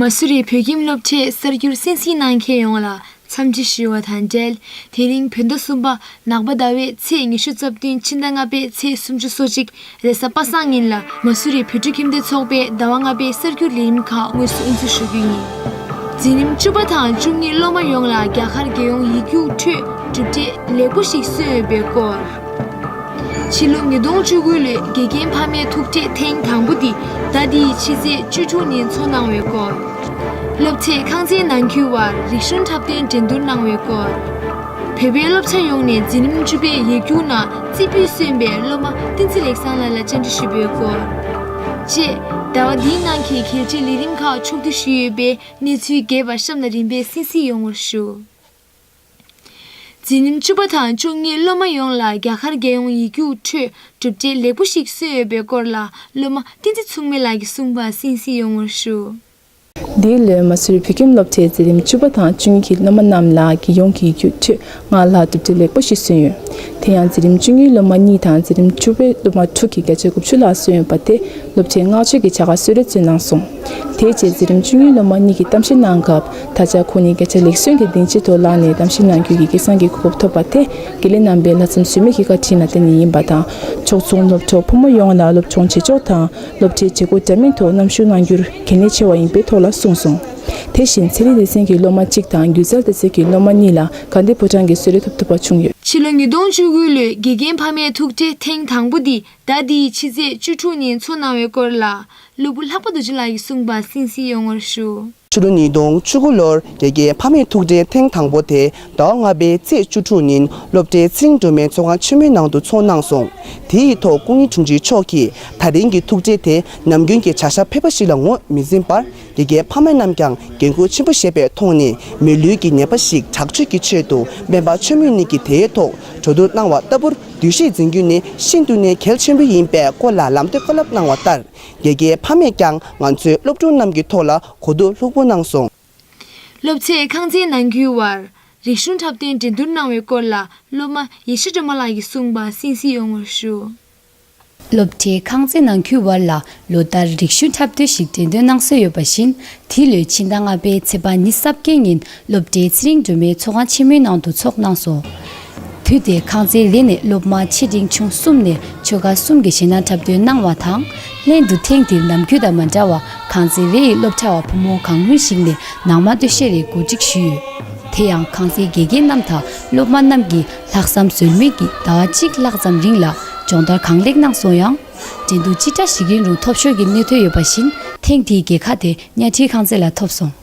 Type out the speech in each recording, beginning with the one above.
མ་སུ་རི་བོད་ཁྱིམ་སློབ་གྲྭས་གསར་འགྱུར་གསན་གཟིགས་གནང་མཁན་ཡོངས་ལ་འཚམས་འདྲི་ཞུས་བ་དང་འབྲེལ་དེ་རིང་བོད་ཟླ་གསུམ་པ་ནག་པ་ཟླ་བའི་ཚེས་ཉི་ཤུ་རྩ་བདུན་ཕྱི་ཟླ་ལྔ་པའི་ཚེས་སུམ་ཅུ་སོ་གཅིག་རེས་གཟའ་པ་སངས་ཉིན་ལ་མ་སུ་རིའི་བོད་ཕྲུག་ཁྱིམ་སྡེ་ཚོགས་པས་ཟླ་བ་ལྔ་པའི་གསར་འགྱུར་ལས་རིམ་ཁག་དངོས་སུ་དབུ་འཛུགས་ཞུ་རྒྱུ་ཡིན། འཛིན་རིམ་བཅུ་པ་དང་བཅུ་གཉིས་སློབ་མ་ཡོངས་ལ་རྒྱ་གར་རྒྱལ་ཡོངས་ཡིག་རྒྱུགས་ཁྲོད་གྲུབ་འབྲས་ལེགས་པོ་ཞིག་སོན་ཡོད་པའི་སྐོར། ཕྱི་ལོ་ཉིས་སྟོང་བཅུ་དགུ་ལོའི་དགེ་རྒན་ཕ་མའི་ཐུག་འཕྲད་ཐེངས་དང་པོ་འདི་ཟླ་འདིའི་ཕྱི་ཚེས་བཅུ་དྲུག་ཉིན་འཚོགས་གནང་བའི་སྐོར། སློབ་ཚད་ཁང་ཚན་ནང་ཁུལ་བར་རིག་གཞུང་འཁྲབ་སྟོན་འགྲན་བསྡུར་གནང་བའི་སྐོར། བོད་པའི་སློབ་ཆེན་ཡོངས་ནས་འཛིན་རིམ་བཅུ་པའི་ཡིག་རྒྱུགས་ནང་རྩིས་འབུལ་གསོན་པའི་སློབ་མ་བསྟན་འཛིན་ལེགས་བཟང་ལགས་ལ་བཅར་འདྲི་ཞུས་པའི་སྐོར། བཅས། ཟླ་བ་འདིའི་ནང་གི་གལ་ཆེའི་ལས་རིམ་ཁག་ཕྱོགས་བསྡུས་ཞུས་ཡོད་པའི་གནས་ཚུལ་རྒྱས་པར་གཤམ་ལ་རིམ་པས་གསན་གཟིགས་ཡོང་བར་ཞུ། འཛིན་རིམ་བཅུ་པ་དང་བཅུ་གཉིས་སློབ་མ་ཡོངས་ལ་རྒྱ་གར་རྒྱལ་ཡོངས་ཡིག་རྒྱུགས་ཁྲོད་གྲུབ་འབྲས་ལེགས་པོ་ཞིག་སོན་ཡོད་པའི་སྐོར་ལ་སློབ་མ་བསྟན་འཛིན་མཚུངས་མེད་ལགས་ཀྱི་གསུངས་པར་གསན་གཟིགས་ཡོང་བར་ཞུ། འདི་ལོའི་མ་སུར་བོད་ཁྱིམ་སློབ་ཆེན་འཛིན་རིམ་བཅུ་པ་དང་བཅུ་གཉིས་ཀྱི་སློབ་མ་རྣམས་ལ་རྒྱལ་ཡོངས་ཀྱི་ཡུལ་ཕྱོད་ལྔ་ལ་གྲུབ་འབྲས་ལེགས་པོ་ཞིག་སོན་ཡོད། དེ་ཡང་འཛིན་རིམ་བཅུ་གཉིས་སློབ་མ་གཉིས་དང་འཛིན་རིམ་བཅུ་པའི་སློབ་མ་དྲུག་གིས་བརྒྱ་ཆ་དགུ་བཅུ་ལྷག་སོན་ཡོད་པ་དེས་སློབ་ཆེན་བསྔགས་བརྗོད་ཀྱི་བྱ་དགའ་སུལ་རེ་བཙུགས་གནང་སོང། དེའི་རྗེས་འཛིན་རིམ་བཅུ་གཉིས་སློབ་མ་གཉིས་ཀྱིས་གཏམ་བཤད་གནང་སྐབས་ད་ཆ་ཁོ་གཉིས་བརྒྱ་ཆ་ལེགས་སོན་གྱི་གདེང་ཇེ་མཐོར་ལངས་ནས་གཏམ་བཤད་གནང་རྒྱུའི་ཡི་གེ་བཟང་གི་གོ་སྐབས་ཐོབ་པ་དེ་དགེ་ལས་རྣམ་པའི་ལྷག་བསམ་ཟོལ་མེད་ཀྱི་བཀའ་དྲིན་ལ་བརྟེན་ནས་ཡིན་པ་དང་ཕྱོགས་མཚུངས་སློབ་གྲོགས་ཕོ་མོ་ཡོངས་ལ་སློབ་སྦྱོང་བྱེད་ཕྱོགས་དང། སློབ་གྲྭའི་བྱེད་སྒོ་རྒྱ་མིན་ཐོག་གནམ་ཞུགས་གནང་རྒྱུར་གལ་གནད་ཆེ་བ་ཡིན་པའི་ཐོག་ལ་གསུངས་སོང། དེ་བཞིན་ཚན་རིག་སྡེ་ཚན་གྱི་སློབ་མ་གཅིག་དང་སྒྱུ་རྩལ་སྡེ་ཚན་གྱི་སློབ་མ་གཉིས་ལ་དགའ་བདེ་ཕོ་བྲང་གི་གསོལ་རས་ཐོབ་ཐུབ་པ་བྱུང་ཡོད། ཕྱི་ལོ་ཉིས་སྟོང་བཅུ་དགུ་ལོའི་དགེ་རྒན་ཕ་མའི་ཐུགས་རྗེ་ཐེངས་དང་པོ་འདི་ཟླ་འདིའི་ཕྱི་ཚེས་བཅུ་དྲུག་ཉིན་འཚོགས་གནང་བའི་སྐོར་ལ་སློབ་བུ་ལྷག་པ་རྡོ་རྗེ་ལགས་ཀྱིས་གསུངས་པ་གསན་གཟིགས་ཡོང་བར་ཞུ། ཕྱི་ལོ་ཉིས་སྟོང་བཅུ་དགུ་ལོར་རྒྱལ་རྒྱལ་ཕ་མེས་ཐུགས་རྗེའི་ཐེངས་དང་པོ་དེ་ཟླ་བ་ལྔ་པའི་ཚེས་བཅུ་དྲུག་ཉིན་སློབ་གྲྭའི་ཚིག་སྒྲོན་མའི་ཚོགས་ཁང་ཆེན་མོའི་ནང་དུ་འཚོགས་གནང་སོང། དེ་ཡི་ཐོག་སྐུ་ཉིད་དྲུང་ཆེ་མཆོག་གིས་ད་རིང་གི་ཐུགས་རྗེ་དེ་ནམ་རྒྱུན་གྱི་བྱ་བཞག་ཕལ་པ་ཞིག་ལ་ངོས་མི་འཛིན་པར་རྒྱལ་རྒྱལ་ཕ་མེས་རྣམས་ཀྱང་འགན་ཁུར་ཆེན་པོ་བཞེས་པའི་ཐོག་ནས་མི་ལུས་ཀྱི་ཉེས་པ་ཞིག་དྲག་སྤྱོད་ཀྱི་ཆེད་དུ་སྨན་པ་ཆོས་མོས་ནི་གིས་དེའི་ཐོག་གྲོས་བསྡུར་གནང་བ་ལྟ་བུར་བསྡུས་ཤིག་འཛིན་རྒྱུ་ནི་ཤིན་ཏུ་ནས་གལ་ཆེན་པོ་ཡིན་པའི་སྐོར་ལ་ལམ་སྟོན་བཀའ་སློབ་གནང་བ་ལྟར། དགེ་རྒན་ཕ་མས་ཀྱང་ང་ཚོའི་སློབ་ཕྲུག་རྣམས་ཀྱི་ཐོག་ལ་གོ་བསྡུར་ལྷུག་པོ་གནང་སོང། སློབ་ཚད་ཁང་ཚན་ནང་རྒྱུའི་བར་རིག་གཞུང་འཁྲབ་སྟོན་འགྲན་བསྡུར་གནང་བའི་སྐོར་ལ་སློབ་མ་ཡེ་ཤེས་སྒྲོལ་མ་ལགས་ཀྱིས་གསུངས་པ་གསན་གཟིགས་ཡོང་བར་ཞུ། སློབ་ཁྲིད་ཁང་ཚན་ནང་རྒྱུའི་བར་ལ་ལོ་ལྟར་རིག་གཞུང་འཁྲབ་སྟོན་ཞིག་འགྲན་བསྡུར་གནང་སྲོལ་ཡོད་པ་བཞིན་དེའི་ལོའི་ཕྱི་ཟླ་ལྔ་པའི་ཚེས་པ་ཉིན་གཟབ་རྒྱལ་ཉིན་སློབ་གྲྭའི་ཚེ་རིང་སྒྲོལ་མའི་ཚོགས་ཁང་ཆེན་མོའི་ནང་དུ་འཚོགས་གནང་སོང། དུས་དེར་ཁང་ཚན་རེ་ནས་སློབ་མ་ཆེ་འབྲིང་ཆུང་གསུམ་ནས་ཆོལ་ཁ་གསུམ་གྱི་ཞེད་སྣང་འཁྲབ་སྟོན་གནང་བ་དང་ལྷན་དུ་ཐེངས་འདིར་ནམ་རྒྱུན་དང་མ་འདྲ་བར་ཁང་ཚན་རེ་ཡི་སློབ་གྲྭ་བ་ཕོ་མོ་གང་མང་ཞིག་ནས་ནང་མ་སྟོད་གཞས་རེ་གོ་སྒྲིག་ཞུས་ཡོད། དེ་ཡང་ཁང་ཚན་དགེ་རྒན་རྣམས་དང་སློབ་མ་རྣམས་ཀྱིས་ལྷག་བསམ་ཟོལ་མེད་ཀྱིས་ཟླ་བ་གཅིག་ལྷག་ཙམ་རིང་ལ་སྦྱོང་བརྡར་གང་ལེགས་གནང་སོང་ཡང། འགྲན་བསྡུར་ཅི་འདྲ་ཞིག་ཡིན་རུང་ཐོབ་ཤོར་གྱི་གནད་དོན་ཡོད་པ་བཞིན་ཐེངས་འདིའི་རྒྱལ་ཁ་དེ་གཉའ་ཁྲིའི་ཁང་ཚན་ལ་ཐོབ་སོང།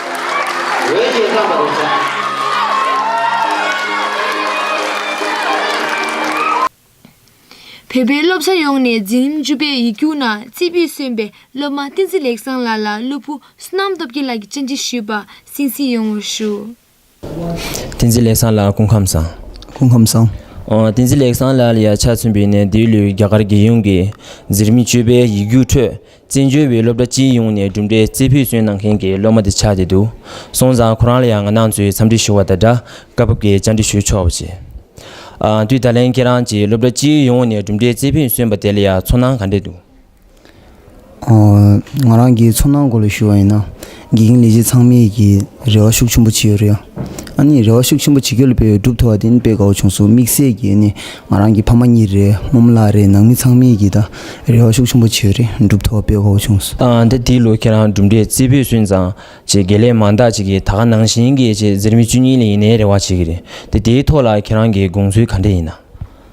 འོས་ཤིང་བླངས་པ་རེད་བསམས། བོད་པའི་སློབ་གྲྭ་ཡོངས་ནས་འཛིན་རིམ་བཅུ་པའི་ཡིག་རྒྱུགས་ནང་རྩིས་འབུལ་སོན་པའི་སློབ་མ་བསྟན་འཛིན་ལེགས་བཟང་ལགས་ལ་སློབ་བུ་བསོད་ནམས་སྟོབས་རྒྱལ་ལགས་ཀྱིས་བཅར་འདྲི་ཞུས་པ་གསན་གཟིགས་ཡོང་བར་ཞུ། བསྟན་འཛིན་ལེགས་བཟང་ལ་སྐུ་ཁམས་བཟང། སྐུ་ཁམས་བཟང། བསྟན་འཛིན་ལེགས་བཟང་ལ་ཡ་ཆ་མཚོན་པའི་གནས་འདིའི་ལོའི་རྒྱ་གར་རྒྱལ་ཡོངས་ཀྱི་གཟེར་མིག་སྤྱོད་པའི་ཡིག་རྒྱུགས་ཁྲོད་བཙན་བྱོལ་བའི་སློབ་གྲྭ་སྤྱི་ཡོངས་ནས་གྲུབ་འབྲས་རྩེ་ཕུད་སོན་གནང་མཁན་གྱི་སློབ་མ་དེ་ཆགས་བསྡད་འདུག་སོང་ཙང་ཁོ་རང་ལ་ཡང་ང་ནང་ཚུད་འཚམས་འདྲི་ཞུ་བ་དང་སྦྲགས་སྐབས་བབ་ཀྱི་བཅར་འདྲི་ཞུ་ཆོག་པ་བྱས། དུས་ད་ལན་ཁྱེད་རང་གྱིས་སློབ་གྲྭ་སྤྱི་ཡོངས་ནས་གྲུབ་འབྲས་རྩེ་ཕུད་སོན་པ་དེ་ལ་ཡང་ཚོར་སྣང་ག་འདྲས་འདུག། ང་རང་གིས་ཚོར་སྣང་སྐོར་ལ་ཞུ་བ་ཡིན་ན་དགེ་རྒན་ལས་བྱེད་ཚང་མས་ཀྱི་རེ་བ་ཤུགས་ཆེན་པོ་བྱེད་ཡོད་རེད་ཨ་ནི་རེ་བ་ཤུགས་ཆེན་པོ་བྱེད་ཁྱོད་ལ་དཔེ་ཡོད་གྲུབ་ཐོབ་བ་དེ་ནི་དཔེ་དགའ་བོ་བྱུང་སོང་དམིགས་བསལ་གྱིས་ནི་ང་རང་གི་ཕ་མ་གཉིས་རེད་རྨོ་མོ་ལགས་རེད་ནང་མི་ཚང་མས་ཀྱིས་ད་རེ་བ་ཤུགས་ཆེན་པོ་བྱེད་ཡོད་རེད་གྲུབ་ཐོབ་བ་དཔེ་དགའ་བོ་བྱུང་སོང། ད་དེའི་ལོ་ཁྱེད་རང་གྲུབ་འབྲས་རྩེ་ཕུད་སོན་ཙང་ཅེས་དགེ་ལས་མང་དག་ཅིག་གིས་ད་ག་ནང་བཞིན་གྱི་ཅེས་འཛིར་མི་བཅུ་གཉིས་ལས་ཡིན་ནའི་རེ་བ་བྱེད་ཀྱི་རེད་དེ་དེའི་ཐོག་ལ་ཁྱེད་རང་གི་དགོངས་ཚུལ་ག་འདྲས་ཡིན་ན།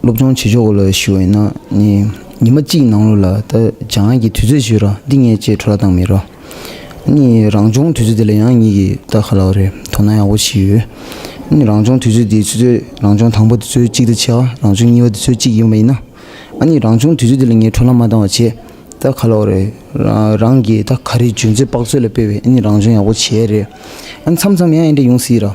སློབ་སྦྱོང་བྱེད་ཆོག་གོ་ལ་ཞུ་འོས་ན་ནི་ཉི་མ་གཅིག་ནང་ལོ་ལ་ད་བྱང་ང་གི་དུས་ཚོད་ཞུ་རོགས་འདི་ངས་བཅད་ཁྲོ་ལ་བཏང་མི་རོགས་ནི་རང་སྦྱོང་དུས་ཚོད་དེ་ལ་ཡང་ཉིད་ཀྱི་ད་ག་ལ་བ་རེད་དོ་ན་ཡག་པོ་ཞིག་ཡོད་ནི་རང་སྦྱོང་དུས་ཚོད་དེ་ཆུ་ཚོད་རང་སྦྱོང་དང་པོ་དེ་ཚོད་གཅིག་ད་ཆ་རང་སྦྱོང་གཉིས་པ་དེ་ཚོད་གཅིག་ཡིན་པ་ཡིན་ན་ནི་རང་སྦྱོང་དུས་ཚོད་དེ་ལ་ངས་ཁྲོ་ལ་མ་བཏང་བ་བྱས་ད་ག་ལ་བ་རེད་རང་གི་ད་ག་རེ་ཇུས་འཛོད་དཔག་ཚོད་ལ་སྤེལ་བས་ནི་རང་སྦྱོང་ཡག་པོ་བྱས་རེད་མཚམས་མཚམས་ཡང་ཡང་འདྲ་ཡོང་སྲིད་ར།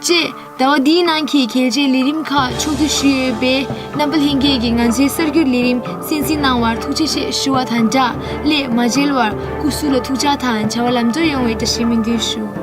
བཅས། ཟླ་བ་འདིའི་ནང་གི་གལ་ཆེའི་ལས་རིམ་ཁག་ཕྱོགས་བསྡུས་ཞུས་ཡོད་པས་རྣམ་པ་ལྷན་རྒྱས་ཀྱིས་ང་ཚོའི་གསར་འགྱུར་ལས་རིམ་གསན་གཟིགས་གནང་བར་ཐུགས་རྗེ་ཆེ་ཞུ་བ་དང་སྦྲགས་སླད་མ་མཇལ་བར་སྐུ་གཟུགས་ལ་ཐུགས་བཅག་དང་བྱ་བ་ལམ་འགྲོ་ཡོང་བའི་བཀྲ་ཤིས་སྨོན་འདུན་ཞུ།